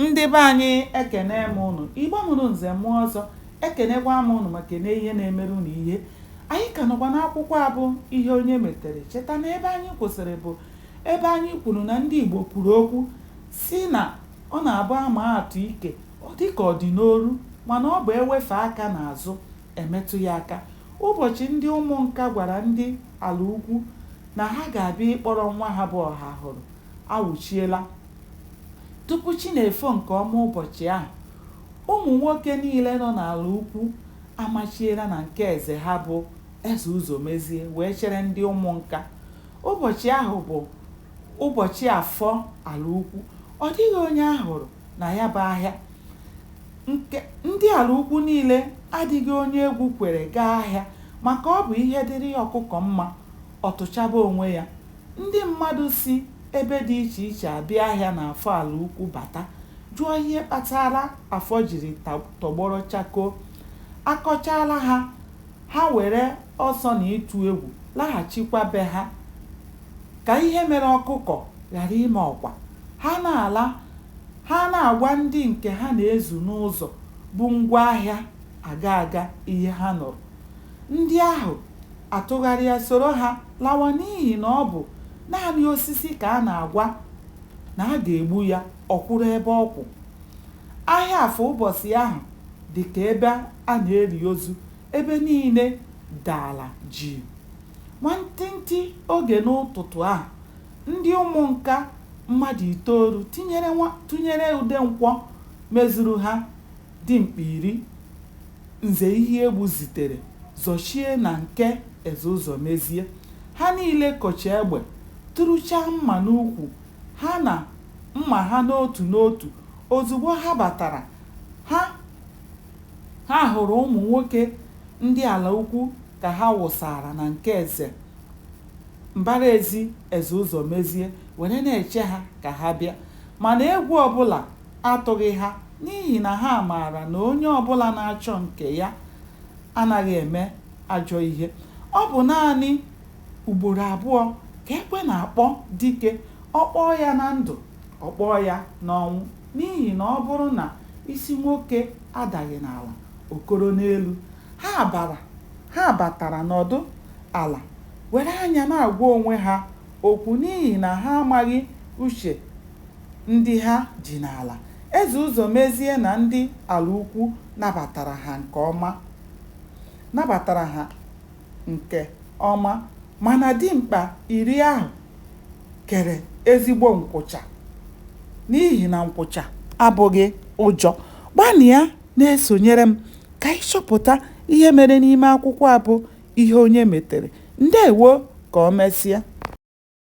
Ndị be anyị ekene m ụnụ, Igbo mụrụ nze mụọ ọzọ, ekenekwa m ụnụ ma kene ihe na-emere ụnụ ihe. Anyị ka nọkwa n'akwụkwọ a bụ Ihe Onye Metere. Cheta na ebe anyị kwụsịrị bụ ebe anyị kwuru na ndị Igbo kwuru okwu sị na ọ na-abụ a maa atụ ike, ọ dị ka ọ dị n'olu mana ọ bụ e wefee aka n'azụ, e metụ ya aka. Ụbọchị ndị Ụmụnka gwara ndị Alaukwu na ha ga-abịa ịkpọrọ nwa ha bụ Ọhahụrụ awụchiela. Tupu chi na-efo nke ọma ụbọchị ahụ, ụmụ nwoke niile nọ n'Alaukwu amachiela na nke eze ha bụ Eze Ụzọmezie wee chere ndị Ụmụnka. Ụbọchị ahụ bụ ụbọchị Afọ Alaukwu. Ọ dịghị onye a hụrụ na ya bụ ahịa. Ndị Alaukwu niile adịghị onye egwu kwere gaa ahịa maka ọ bụ ihe dịrị ọkụkọ mma ọ tụchaba onwe ya. Ndị mmadụ si ebe dị iche iche abịa ahịa n'Afọ Alaukwu bata jụọ ihe kpatara Afọ jiri tọgbọrọ chakoo. A kọchaara ha, ha were ọsọ na ịtụ egwu laghachikwa be ha. Ka ihe mere ọkụkọ ghara ime ọkwa, ha na-ala, ha ana-agwa ndị nke ha na-ezu n'ụzọ bu ngwa ahịa aga aga ihe ha nụrụ. Ndị ahụ atụgharịa soro ha lawa n'ihi na ọ bụ naanị osisi ka a na-agwa na a ga-egbu ya ọ kwụrụ ebe ọ kwụ. Ahịa Afọ ụbọchị ahụ dị ka ebe a na-eli ozu, ebe niile dara jii. Nwantịntị oge n'ụtụtụ ahụ, ndị Ụmụnka mmadụ itoolu tụnyere Udenkwọ mezuru ha dimkpa iri, Nze Ihegbu zitere zọchie na nke Ezeụzọmezie. Ha niile kocha egbe, turuchaa mma n'ukwu ha na mma ha n'otu n'otu. Ozugbo ha batara, ha ha hụrụ ụmụ nwoke ndị Alaukwu ka ha wụsara na nke eze mbaraezi Ezeụzọmezie were na-eche ha ka ha bịa. Mana egwu ọbụla atụghị ha n'ihi na ha maara na onye ọ bụla na-achọ nke ya anaghị eme ajọ ihe. Ọ bụ naanị ugboro abụọ ka ekwe na-akpọ dike, ọ kpọọ ya na ndụ, ọ kpọọ ya n'ọnwụ n'ihi na ọ bụrụ na isi nwoke adaghị n'ala, o koro n'elu. Ha bara ha batara nọdụ ala were anya na-agwa onwe ha okwu n'ihi na ha amaghị uche ndị ha ji n'ala. Eze Ụzọmezie na ndị Alaukwu nabatara ha nke ọma nabatara ha nke ọma mana dimkpa iri ahụ kere ezigbo nkwụcha n'ihi na nkwụcha abụghị ụjọ. Gbanịa na-esonyere m ka anyị chọpụta ihe mere n'ime akwụkwọ a bụ Ihe Onye Metere. Ndewo ka o mesịa.